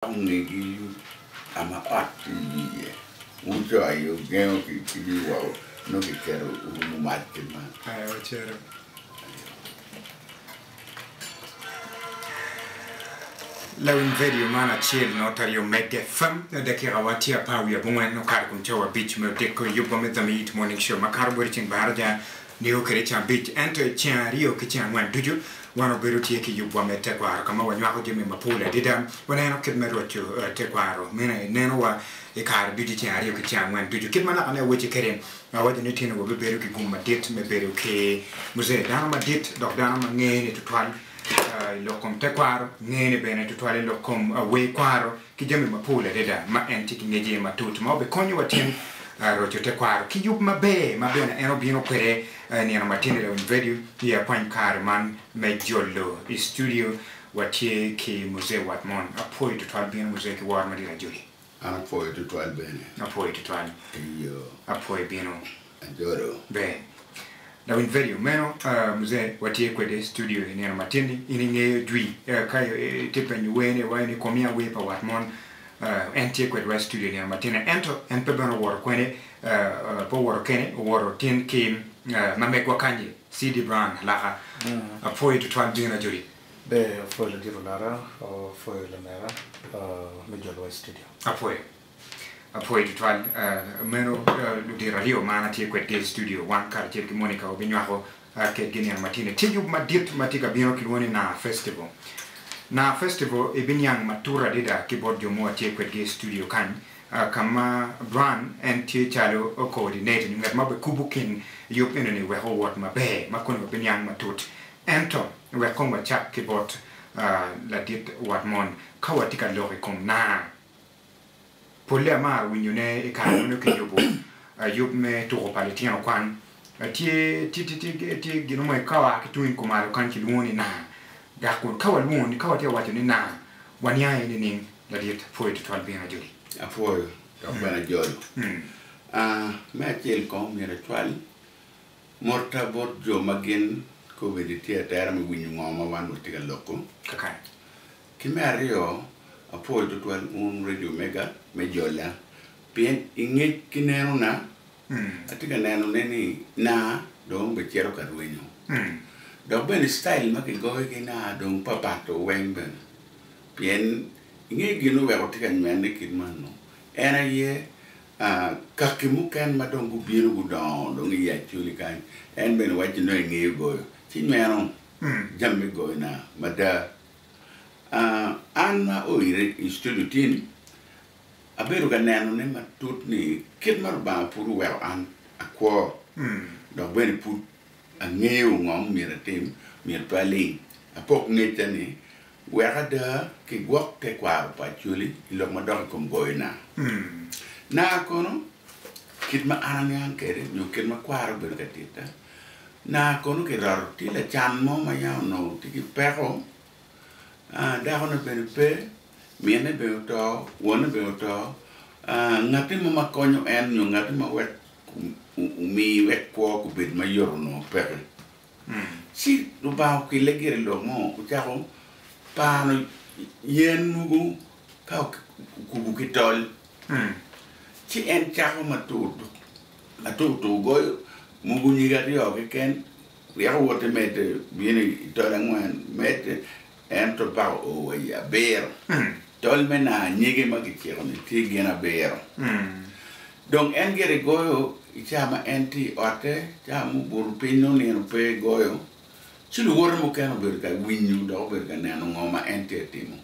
Ongegi ka ma ot tye iye, wucoyo ogengo ki wi woko, nongo kiketo orumo mac ki malo. Lawiny vedio man acel nyo ta aryo medde. Fam, Dakikawa tye apar wiye abongwen okato kun cawa abic me odiko. Yub wa me Dhamiyit Morning Show makato bot i ceng baraja. Nigo kede ceng abic, ento i ceng aryo ki ceng angwen ducu, wan wabedo tye ki yubwa me tekwaro ka ma wanywako jami mapol adida. Waneno kit me roco tekwaro mene i nenowa i kare ducu i ceng aryo ki ceng angwen ducu. Kit ma naka ne awacci kwede, awaco ni tinowa bibedo ki gum madit me bedo ki Muse, dano madit dok dano ma ngene tutwal i lok kom tekwaro, ngene bene tutwal i lok kom wer kwaro. ki jami mapol adada ma en tye ki ngecce matut ma obikonyo watyen roco tekwaro ki yub maber ma bene en obino kwede i nino matino dok Nvedio i akwany kare man me jolo i studio watye ki Muzee wat mon apwoyo tutwal bino Muzee ki woro madit ajoli. An apwoyo tutwal bene. Apwoyo tutwal. Eyo. Apwoyo bino. Ajolo. Ber. Lawiny vedio meno Mzee watye kwede studio i nino matin ni in ingeyo jwi ka itye penyo wer ni wa in ikomiya wer pa wat mon en tye kwedwa i studio i nino matin ni ento en pe bene owoto kwene pe owoto kene owoto tin ki ma megwa kanyi CD Brown alaka apwoyi tutwal Jane Ajoli. Ber apwoyi ladit olota apwoyi lamera me jolowa i studio. Apwoyo. Apwoyo tutwal meno ludito aryo ma an atye kwedgi i studio. Wan karacel ki Monica wabinywako kedgi niang matin i tic-gu madit ma tye ka bino kilwongo ni Naa Festival. Naa Festival ibiniang matut adada ki bot jo ma watye kwedgi i studio kany, ka ma Bran en tye calo coordinator nyo ngat ma obikubo kin yub enoni wek owot maber ma koni wabiniang matut. Ento wek kong wacak ki bot ladit wat mon, ka watye ka lok i kom naa, Polle amaro winyo ne i kare ma nongo ki yubo yub me tuko pa litino kwan. Tye tye gino mo ka oa ki tung kumalo kany ki lwongo ni naa. Dok kun ka wa lwongo ni ka wa tye ka waco ni naa wa niang aye ni ning ladit. Apwoyo tutwal bino ajoli. Apwoyo dok bene ajolo. Aa me acel kong myero acwal Motta bot jo ma gin kobedi tye atera me winyo ngo ma wan watye ka loko kaka. Ki me aryo, apwoyo tutwal un Radio Omega me jola pien i ngec ki neno na, atye ka neno ne ni na dong be cito ka rwenyo. Dok bene style ma ki goyo ki na dong pa pat o weng bene. Pien ingeyo gin oweko tye ka nywene kit man no? En aye Kaki mukene ma dong gubino gudongo dong i Yaculi kany, en bene wacci, Nongo ingeyo goyo, ci nyweno jami me goyona mada. An ma oire i studio tin, abedo ka nenone matut ni kit ma Lubanga pud oweko an akwo dok bene pud Angeyo ngo ma myero atim, myero pe aling apok ngecca ni wek ada ki gwok tekwaro pa Acholi i lok ma dok i kom goyo naa. Naa kono kit ma an aniang kwede nyo kit ma kwara obedo ka titta, naa kono ki roto tye lacan mo ma yam onongo tye ki peko, dako ne bene pe, minne bene oto, wonne bene oto, ngati mo ma konyo en nyo ngati ma wek omi wek kwo kubed ma yot onongo peke. Ci Lubanga okelle gire i lok mo, ocako pano yen mogo ka okubo ki tol. Ci en cako matur tur goyo mogo nyige aryo keken, ryeko woto medde bino i tol angwen, medde. Ento pako o wa i abiro. Tol me naa anyege ma kiciko ni tye gin abiro. Dong en gire goyo i caa ma en tye i otte, caa ma obuto piny nongo nino pe goyo. Ci luwote mukene obedo ka winyo dok obedo ka neno ngo ma en tye ka timo.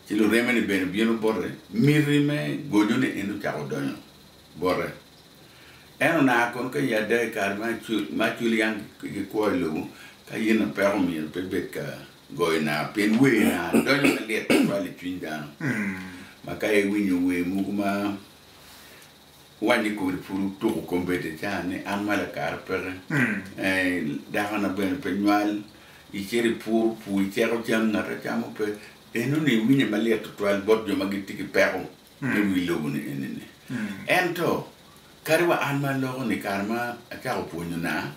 Ci lureme ni bene obino bote, miti me gojo ni en ocako donyo. bote. En onaa kono ka i ada i kare ma aculyang ki kwo i lobo, ka yen na peko myero pe ibed ka goyo naa, pien wer naa donyo malyet tutwal i cwiny dano, ma ka iwinyo wer mogo ma wanyi kodi pud wutuko kombeddi ca ni an mala kara peke, dakona bene pe nywal, icito i pur, pur iceko cam, ngat acamo pe, enoni iwinye malyet tutwal bot jo ma gitye ki peko. Pe wi lobo-ni enini. Ento, kadi wa an ma aloko-ni, i kare ma acako pwonyona,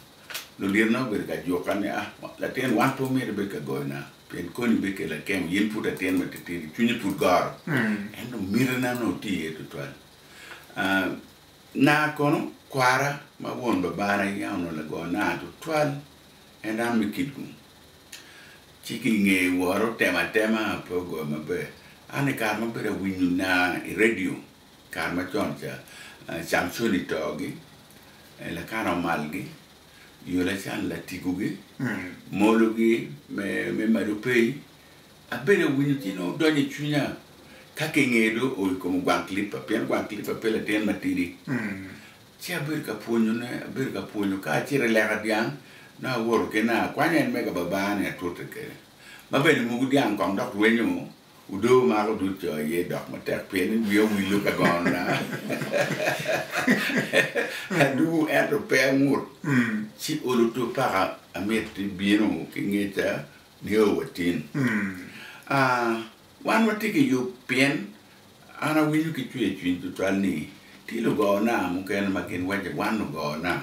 lulyetna gubedo ka juka ni, Ah, latin, wan pe omyero ibed ka goyona, pien koni bikelo akemo. In pud latin matitidi, cwinyi pud goro. Ento mitina onongo tye iye tutwal. Nar kono, kwara ma won babana yam onongo lago nar tutwal, ento an me kit-gu. Ci ki i nge woro otema atema pe ogoyo maber. An i kare ma abedo awinyo naa i redio i kare macon ca, Camconi togi, Elakana Omalgi, Yulacan Latigogi, Mologi me Madopey. Abedo awinyo ci nongo donyo i cwinya ka ki i nge dong oo i kom Gwang Clipper pien Gwang Clipper pe latin matidi. Ci abedo ka pwonyone, abedo ka pwonyo ka acito i leka dyang, nongo awoto ki nanga akwanyo en mega babaa-ni atute kede. Ma bene muku dyang kong dok rwenyo odoo mako dud co aye dok matek pien ni wiya owillo ka gonona. Aduu ento pe angut. Ci olo two paka amiti bino ki ngeca nio watin. Aa, wan watye ki yub pien. An awinyo ki cwer i cwiny tutwal ni tye lugona mukene ma gin waco wan lugona,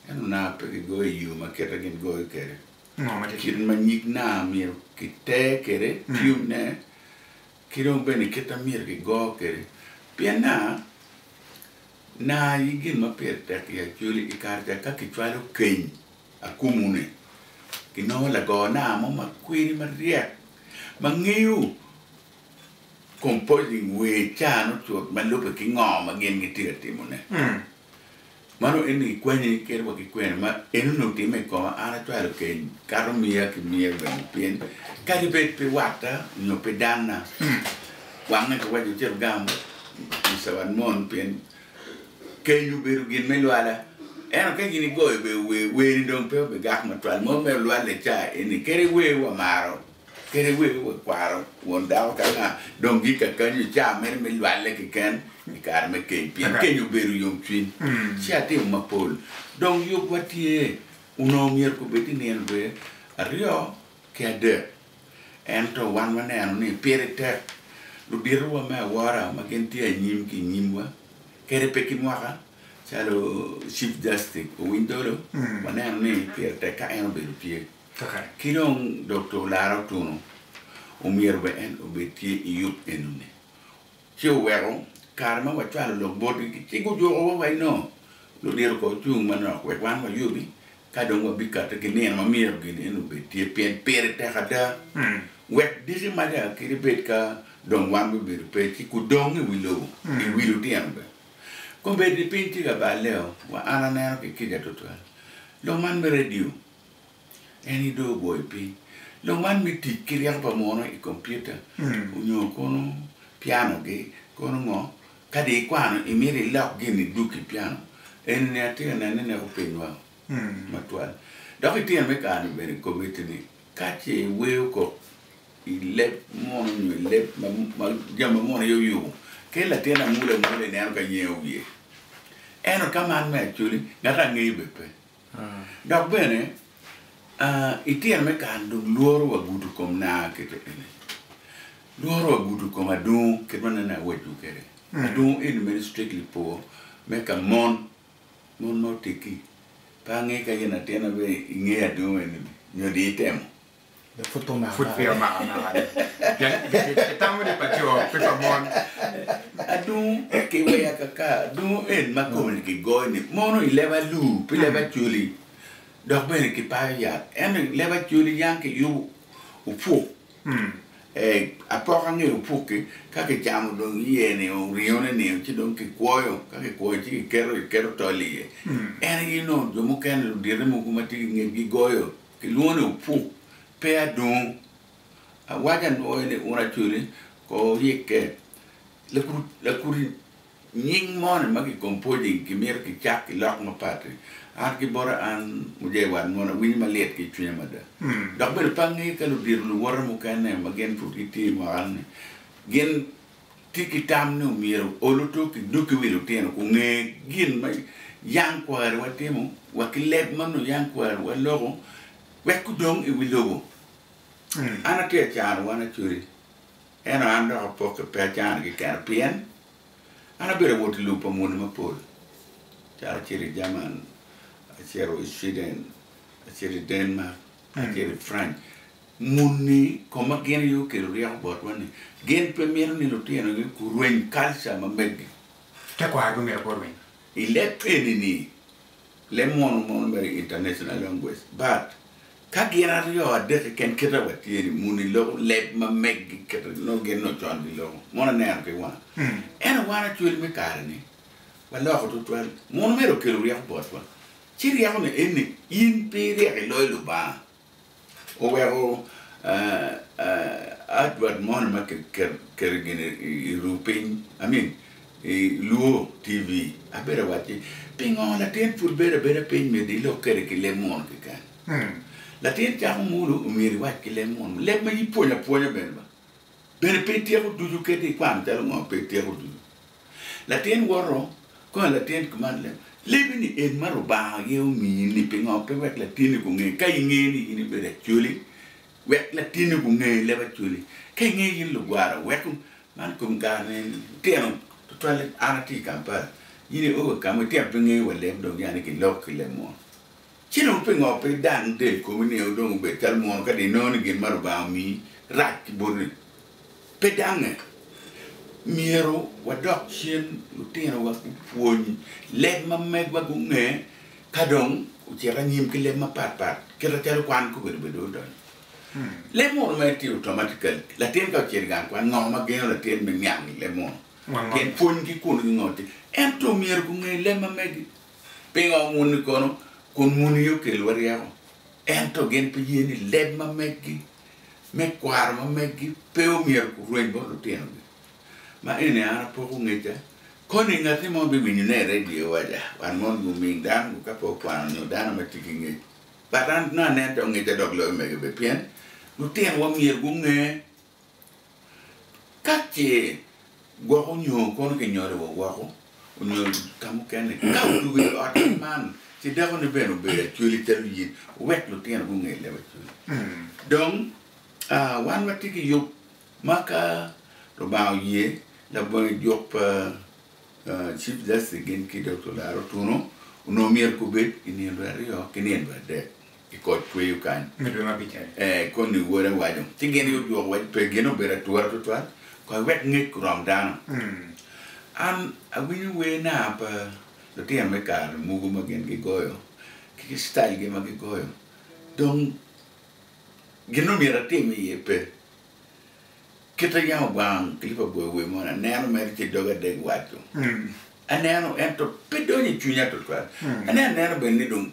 ento na pe gigoyo i yo ma kite gin goyo kwede. Kit ma nyig na myero kiter kwede, tiyub ne, ki dong bene kit ma myero gigo kwede. Pien na, na aye gin ma pire tek i Acholi i kare ca ka kicwalo keny akumu ni, ginongo lagona mo ma kwede maryek ma ngeyo Composing wer cano cut ma lubbe ki ngo ma gin gitye ka timone. Mano en ni kikwanyo ni kit wa ki kwena ma en onongo timme i koma, an acwalo keny kato miya ki miya bene pien kadi bed pe watta nyo pe danna wange ki waco cito gam Mister wat mon pien keny obedo gin me lwala ento ka gin igoyo bene wer, wer ni dong pe obigak matwal mo me olwalle ca en ni kadi wer wamaro Kede wek wek kwaro won dako ka nga dong gik kakanyi oca mere me lwalle keken i kare me keny pien keny obedo yomcwiny ci atimo mapol dong yub wa tye onongo myero kobed ni nino dwe aryo ki adek ento wan waneno ni pire tek ludito wa me awora ma gin tye anyim ki nyim wa kede pe ki mwaka calo chief justice Owiny Dolo waneno ni pire tek ka en obedo tye. Kaka ki dong Dokta olaro otunu, omyero bene en obed tye i yub enuni, ci oweko kare ma wacwalo lok botgi ki cik ojuko wa waci nongo ludito ko cung manok wek wan wayubi ka dong wabikate ki nino ma myero gin eni obed tye pien pire tek ada. Wek diki mada kit ebed ka dong wan bibedo pe ci kudong i wi lobo, i wi lutino bene. Kombeddi piny tye ka balle o, wa an aneno ki kica tutwal lok man me radio En dong ogoyo piny. Lok man me tic ki ryeko pa muno i kompiuta onyo kono piano gi kono ngo? Ka dong ikwano imito ilok gin i duk i piano eni ni atye ka neno ni neko piny wang matwal. Dok i tyen me kare ni bene komiti ni ka ce iweyo kok i leb muno onyo i leb ma jami ma muno aye oyubo kel latin amula amula ineno ka nyeyo wiye. Ento ka man me acoli ngato angeyo bene pe. Dok bene, i tyen me kare-ni dong lworo wagudo kom na kite eni. Lworo wagudo kom adungu, kit ma anene awaco kwede, adungu eni meno strictly po me ka mon, mon ma oteggi. Pe ange ka in atin aye ingeyo adungu eni-ni nyo dong itemo. Pud peya omaka amaka ni. Pien kitamo ni pa co pe pa mon. Adungu ki weya kaka dungu en ma kome ni ki goyo ni mono i leba luu pi leba coli dok bene ki payo yat ento leba coli yang ki yubu opuk eh apoka nge opuk ki ka ki camo dong iye ni o ringo ne ni ci dong ki kwoyo ka ki kwoyo ci ki keto tol iye en aye nongo jo mukene ludite mogo ma tye ki ngec gi goyo Kilwongo ni opuk, pe adongo. Awaco anwoye ni un acwele ko rikke. Lakuti nying moni ma decomposing kimito kicak ki lok mapat-ti, an ki bota an mujee wat moni awinyo malit ki i cwinya mada. Dok bene pe angeyo ka ludito luwota mukene ma gin pud gitye i mwaka-ni gin Ti ki tam ni omyero ol otok i doggi wi lutino kun nge gin ma yang kwariwa timo wa ki leb ma nongo yang kwariwa loko wek gudong i wi lobo. An atye acano wan acweri, ento an dok apokke pe acano kekena pien an abedo awot i lub pa muni mapol calo acito i Jerman, acito i Sweden, acito i Denmark. Kacel i Franc, muni koma gin aye okelo ryeko botwa ni gin pe mito ni lutinogi gurweny kalca ma meggi. Tekwaro pe mito gurweny. I leb treni-ni, leb mono mono mere i International Language, but ka gin aryo adek keken kite wa tye ni muni loko leb ma meggi kite nongo gin nongo con giloko. Mono aneno ki wang. Ento wan Acwel me kare-ni waloko tutwal. Munu mere okelo ryeko botwa. Ci ryekone en ni, In pe iryek iloyo Lubanga, oweko adwad moni ma kiketo gini i ruu piny, I mean i luo TV, abedo awacci, pingo latin pud bedo abeda piny myero ilok kwede ki leb munu keken? Latin cako mulu myero iwac ki leb munu, leb ma ipwonyo apwonya bene ba, bene pe ityeko ducu kadi ikwano calo ngo pe ityeko ducu. Latin woto ka latin kiman leb, lebi ni en ma Lubanga aye omiyi ni pingo pe wek latini gunge ka ingeyo ni in ibedo acholi wek latini gunge leb acholi ka ingeyo in lugwara weko man i kom kare ni litino tutwale an atye i Kampala in i owe kama itino pe ingeyo wa leb dong yani ki lok ki leb mo. Ci dong pingo pe idan del komi ni en dong obed calo munu kadi inongo ni gin ma Lubanga omiyi rac ki boti? Pe dange! Myero wadok cen lutinowa gupwony leb ma megwa gunge ka dong ocito anyim ki leb mapat pat kit macalo kwan kobedi bene dong odonyo. Leb munu ma itye oto ma tye ka latin ka ocito i gang kwan ngo ma gengo latin me niang leb munu? Pien pwonygi kun gingo tye ento myero gunge leb ma megi. Pingo muni kono? Kun muni okelowa ryeko, ento gin pe ye ni leb ma meggi me kwaro ma meggi pe omyero kurweny bot lutinogi. Ma eni an apoko ongecca, koni ngati mo biwinyo ne i radio waja wan mono guming dano ngo ka pe okwano nyo dano ma tye ki ngec. But an nongo aneno ta ongecca dok loyo mege bene pien lutinwa myero gunge Ka ce gwoko nyo kono kinyoliwa woko onyo ka mukene, ka otugo i ot kit man, ci dako ni bene obedo acwele calo in, wek lutino gunge leb acwele. Dong wan watye ki yub ma ka Lubanga oye, labonge juk pa Chief Justice gin ki Dokta Olaro Otuno onongo myero gubed i nino dwe aryo ki nino dwe adek. i kot tweyo kany. Ee, koni wod awaco, ci gin gudwoke wacci, Pe gin obedo atura tutwal, kony wek ngec orom dano. An awinyo wer naa pa lutino me kare mogo ma gin gigoyo ki ki citailgi ma gigoyo, dong gin ma myero atim iye pe. Kit ma yam ogwango clip agoyo wer moni, aneno mere ci doga dek waco. Aneno, ento pe donyo i cwinya tutwal. Ane aneno bene ni dong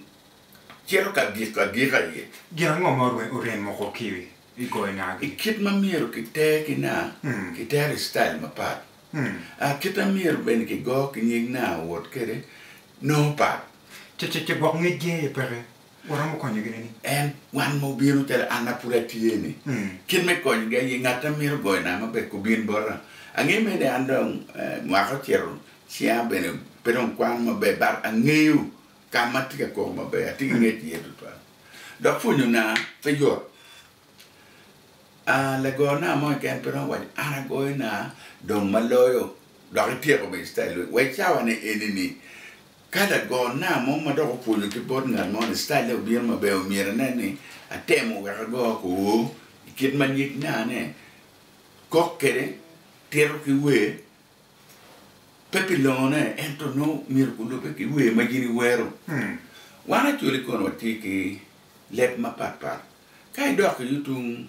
Cito ka gik agika aye. Gin ango ma orem moko ki i goyo nagi? Kit ma myero kiter ki naa kitero i citail mapat. Kit ma myero bene kigo ki nyig naa owot kwede nongo pat. Cecece gwok ngec gi aye peke. Waromo konyo gine ni? En, wan ma obino calo an ma pud atye ni, kit me konyo gi aye ngat ma mito goyo naa maber kubin bota. Angeyo mere ni an dong mwaka ocito, cinga bene pe dong kwano maber but angeyo Ka ma atye ka koko maber, atye ki ngec iye tutwal, dok pwonyona pe yot. Lagorna mo keken pe romo waco, 'An agoyona dong ma loyo dok ityeko bene citail lweny. Wa i cawane eni-ni, ka lagorna mo ma dok opwonyo ki bot ngat mo ni citaille obino maber, myero anen ni atemo wek ago kwo i kit ma nyig nane kok kwede, tito ki wer. pe pi longone, ento nongo myero gulubbe ki wer ma gin iwero. Wan Acholi kono watye ki leb mapatpat. Ka idok ki yo tung